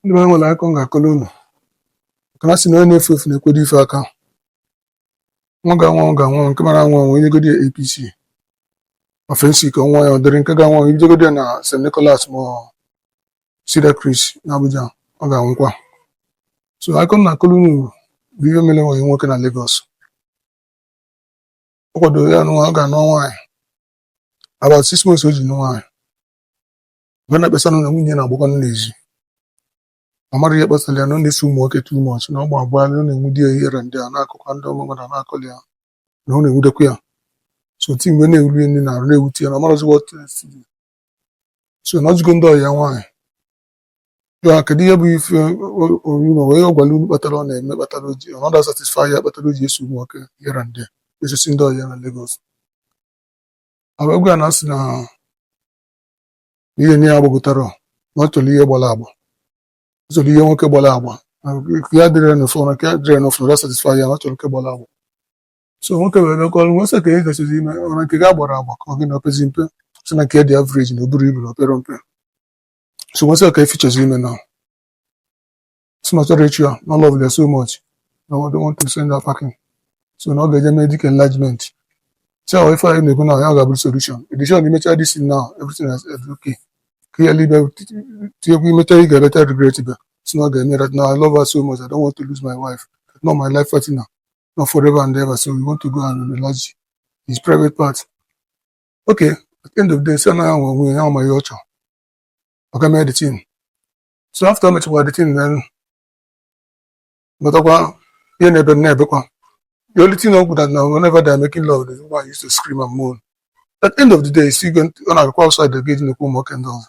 ndị be anyị nwere akụkọ m ga-akọrọ unu nke na sị na onye na-efu efu na-ekwedo ife aka nwa ga-anwụ ọ ga-anwụ nke mara anwụ anwụ enyegodi ya apc ma phensic ọ ṅụa ya ọ dịrị nke ga-anwụ anwụ ibidogodi ya na st nicholas ma ọ cedarcrest na abuja ọ ga-anwụkwa so akụkọ m na-akọrọ unu bụ ihe mere nwanne anyị nwoke na lagos ọ kwadoro ya nwa ọ ga-anụ nwaanyị about six months o ji nụ nwaanyị mgbe na-ekpesa na nwunye na-agbaka n'ezi ọ marọ ihe kpatara ya na ọ na-eso ụmụ nwoke too much na ọ gba abụọ na ọ na-ewute ya ihe ndị a na akụkọ ndị ụmụ mmadụ na-akọli ya na ọ na-ewutekwa ya so ti mgbe na-ewuli nri na arụ na-ewute ya na ọ marọzi what else to do. so na ọjụgo ndị ọyị ya nwaanyị ya kedu ihe bụ ife orima wee ọ gwara unu kpatara ọ na-eme kpatara o ji na ọ da satisfy ya kpatara o ji eso ụmụ nwoke ihe ndị a esisi ndị ọyị ya na Lagos agwa ya na asị na ihe nwunye ya gbagotara ọ na ọ chọrọ ihe gbara agba ọ chọrọ ihe nwoke gbara agba na nke ya dịrị ya n'ofu na nke ya dịrị ya n'ofu ada satisfy ya na ọ chọrọ nke gbara agba so nwoke wee bịa kọọrọ m wee sị kee ihe ị chọzi ime ọ na nke ya gbara agba ka ọ gị na o pezi mpe sị na nke ya dị average na o burọ ibu na o perọ mpe so m wee sị ya kee ife ị chọzi ime na sị na ọ chọrọ ịchụ ya na ọ love ya so much na ọ don't want to send her packing so na ọ ga-eje mee dick enlargement si ahụ ife anyị na-ekwu na ya ga-abụrụ solution edishon imecha this thing now everything is is okay ka ya libe tinyekwu imecha ị ga-ebeta regret ibe si na ọ ga-eme that now I love her so much I don't want to lose my wife na ọ my life partner na ọ forever and ever so we want to go and enlarge his private part okay at the end of the day sị na ya nwe onwe ya mee ihe ọ chọrọ ọ ga mee the thing so after o mechakwara the thing then lọtakwa ihe na-ebe na-ebekwa the only thing bụ that na whenever they are making love the woman used to scream and moan at the end of the day still go ọ na-agakwa outside the gate na-ekwu ụmụ nwoke ndị ọzọ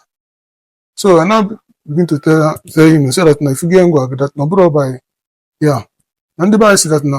so I now begin to tell her tell him say that na ifugo ngwa that na ọ bụrụ ọba ya na ndị be anyị si that na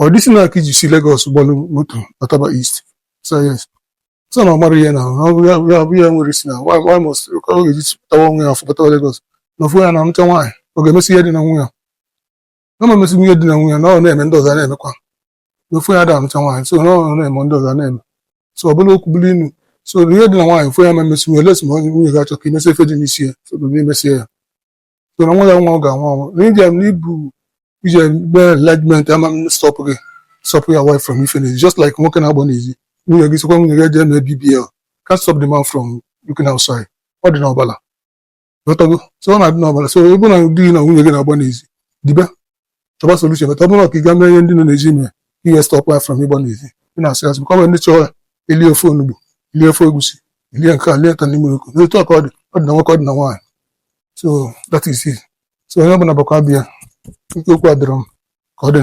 ọ dịsị na aka iji si Lagos gbalụ moto lataba East so ya sị so na ọ mara ihe na ya bụ ya nwere isi na why must ọ ga-eji pụtawa onwe ya afọ pụtawa Lagos na ofu onye ada anụcha nwaanyị ọ ga-emesi ihe dị na nwunye na ma emesi ihe dị na nwunye na ọ na-eme ndị ọzọ na-emekwa na ofu onye ada anụcha nwaanyị so na ọ na-eme ndị ọzọ na-eme so ọ bụlụ okwu bụrụ inu so ihe dị na nwaanyị ofu onye ma emesi nwunye lesi ma onye nwunye ga-achọ ka imesi ife dị n'isi ya so na imesi ya so na nwere nwa ọ ga-anwụ anwụ na ije m n'ibu ije mee enlargement ama stop gị stop your wife from ife n'ezi just like nwoke na-agba n'ezi nwunye gị sịkwa nwunye gị eje mee bbl can't stop the man from looking outside ọ dị n'ọbala ị ghọtago so ọ na-adị n'ọbala so ebe na di gị na nwunye gị na-agba n'ezi dibe chọba solution but ọ bụrụ ka ị ga-eme ihe ndị nọ na-eji ime ihe stọpụ ya from ịgba n'ezi ị na-asụ ya ka ọ nwere ndị chọrọ ili ofe onugbu ili ofe egusi ili nke a lie ka n'ime oko n'otu a ka ọ dị ọ dị na nwoke ọ dị na nwaanyị so that is it so onye ọbụla bụkwa abịa nke okwu adịrọ m ka ọ dị